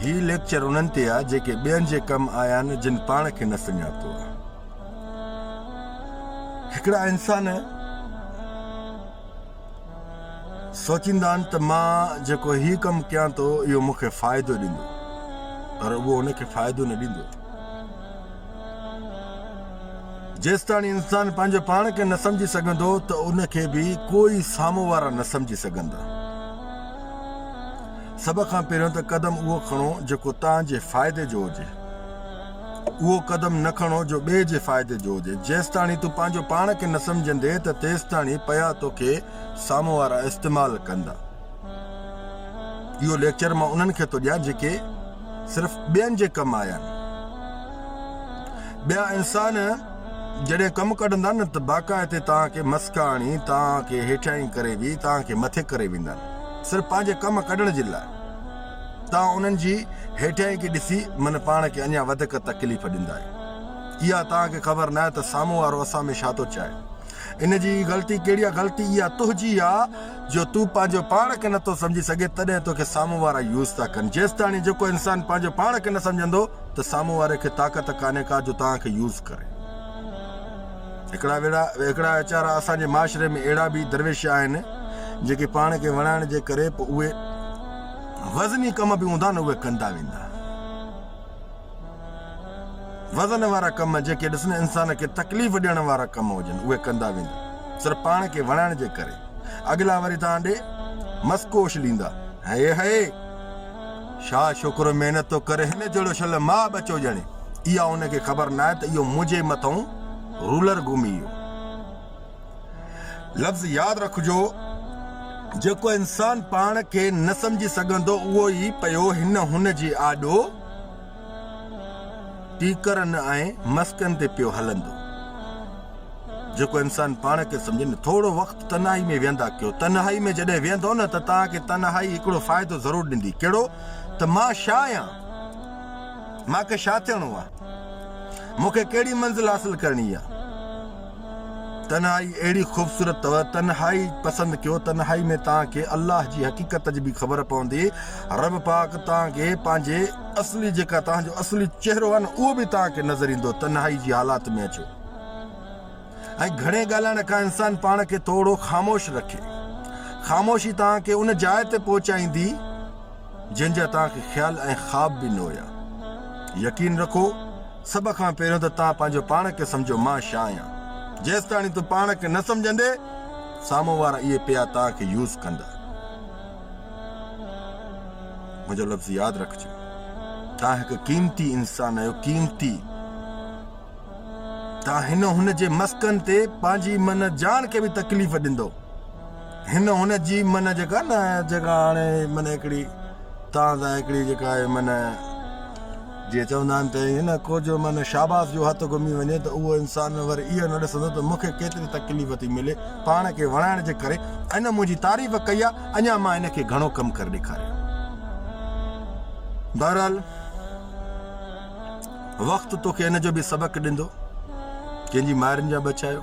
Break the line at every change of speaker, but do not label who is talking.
هي lecture انهن تي آ جيڪي ٻين جي ڪم آيان جن پاڻ کي نه سڃاتو آ. هڪڙا انسان سوچيندا آهن ته مان جيڪو هي ڪم ڪيان ٿو اهو مون کي فائدو ڏيندو پر اهو ان کي فائدو نه ڏيندو. جيستاڻي انسان پنهنجو پاڻ کي نه سمجهي سگهندو ته ان کي به ڪوئي سامهون وارا نه سمجهي سگهندا. سڀ کان پهريون ته قدم اهو کڻو جيڪو توهان جي فائدي جو هجي. اهو قدم نه کڻو جو ٻئي جي فائدي جو هجي. جيستاڻي تون پنهنجو پاڻ کي نه سمجهندين ته تيستاڻي پيا توکي سامهون وارا استعمال ڪندا. اهو ليڪچر مان انهن کي ٿو ڏيان جيڪي صرف ٻين جي ڪم آيا آهن. ٻيا انسان جڏهن ڪم ڪڍندا نه ته باقاعدي توهان کي مسڪا هڻي توهان کي هيٺيائين ڪري به توهان کي مٿي ڪري ويندا آهن. صرف پنهنجي ڪم ڪڍڻ جي لاء توهان انهن جي هيٺيائين کي ڏسي من پاڻ کي اڃا وڌڪ تڪليف ڏيندا آهيو. اها توهان کي خبر ناهي ته سامهون وارو اسان ۾ ڇا ٿو چاهي. ان جي ئي غلطي ڪهڙي آهي غلطي اها تنهنجي آ جو تون پنهنجو پاڻ کي نٿو سمجهي سگهين تڏهن توکي سامهون وارا يوز ٿا ڪن جيستاڻي جيڪو انسان پنهنجو پاڻ کي نه سمجهندو ته سامهون واري کي طاقت ڪانهي ڪا جو توهان کي يوز ڪري. هڪڙا ويڙا هڪڙا ويچارا اسان جي معاشري ۾ اهڙا به درويش آهن جيڪي پاڻ کي وڻائڻ جي ڪري به اهي وزني ڪم به هوندا نه اهي ڪندا ويندا وزن وارا ڪم جيڪي ڏسن انسان کي تڪليف ڏيڻ وارا ڪم هجن اهي ڪندا ويندا صرف پاڻ کي وڻائڻ جي ڪري اڳلا وري تان ڏي مسڪوش ڏيندا هي هي شاهه شڪر محنت ٿو ڪري هن جهڙو شل ماء ٻچو ڄڻي اها هن کي خبر ناهي ته اهو منهنجي مٿئون رولر گهمي ويو لفظ ياد رکجو جيڪو انسان پاڻ کي نه سمجهي سگهندو اهو ئي پيو هن هن جي آڏو ٽيڪرن ۽ مسڪن تي پيو هلندو. جيڪو انسان پاڻ کي سمجهي نه ٿورو وقت تنهائي ۾ ويهندا ڪيو. تنهائي ۾ جڏهن ويهندو نه ته توهان کي تنهائي هڪڙو فائدو ضرور ڏيندي. ڪهڙو؟ ته مان شا آهيان؟ مان کي شا ٿيڻو آهي؟ مون کي ڪهڙي منزل حاصل ڪرڻي آهي؟ تنهائي اهڙي خوبصورت اٿو، تنهائي پسند ڪيو، تنهائي ۾ توهان کي الله جي حقيقت جي به خبر پوندي، رب پاڪ توهان کي پنهنجي اصلي جيڪا توهان جو اصلي چهرو آهي نه اهو به توهان کي نظر ايندو، تنهائي جي حالات ۾ اچو ۽ گهڻي ڳالهائڻ کان انسان پاڻ کي ٿورو خاموش رکي، خاموشي توهان کي ان جاء تي پهچائيندي جنهن جا توهان کي خيال ۽ خواب به نه هيا، يقين رکو. سڀ کان پهريون ته توهان پنهنجو پاڻ کي سمجهو مان شا آهيان جيستاڻي تون پاڻ کي نه سمجهندي سامهون وارا اهي پيا توهان کي يوز ڪندا منهنجو لفظ ياد رکجو توهان هڪ قيمتي انسان آهيو قيمتي توهان هن هن جي مسڪن تي پنهنجي من جان کي به تڪليف ڏيندو هن هن جي من جيڪا نه جيڪا هاڻي من هڪڙي توهان سان هڪڙي جيڪا من جيئن چوندا آهن ته هن ڪو جو من شاباس جو هٿ گهمي وڃي ته اهو انسان ور اهو نه ڏسندو ته مونکي ڪيتري تڪليف ٿي ملي پاڻ کي وڻائڻ جي ڪري هن منهنجي تعريف ڪئي آهي اڃا مان هن کي گهڻو ڪم ڪري ڏيکاريان بهرحال وقت توکي ان جو به سبق ڏندو ڪنهن جي مائرن جا ٻچايو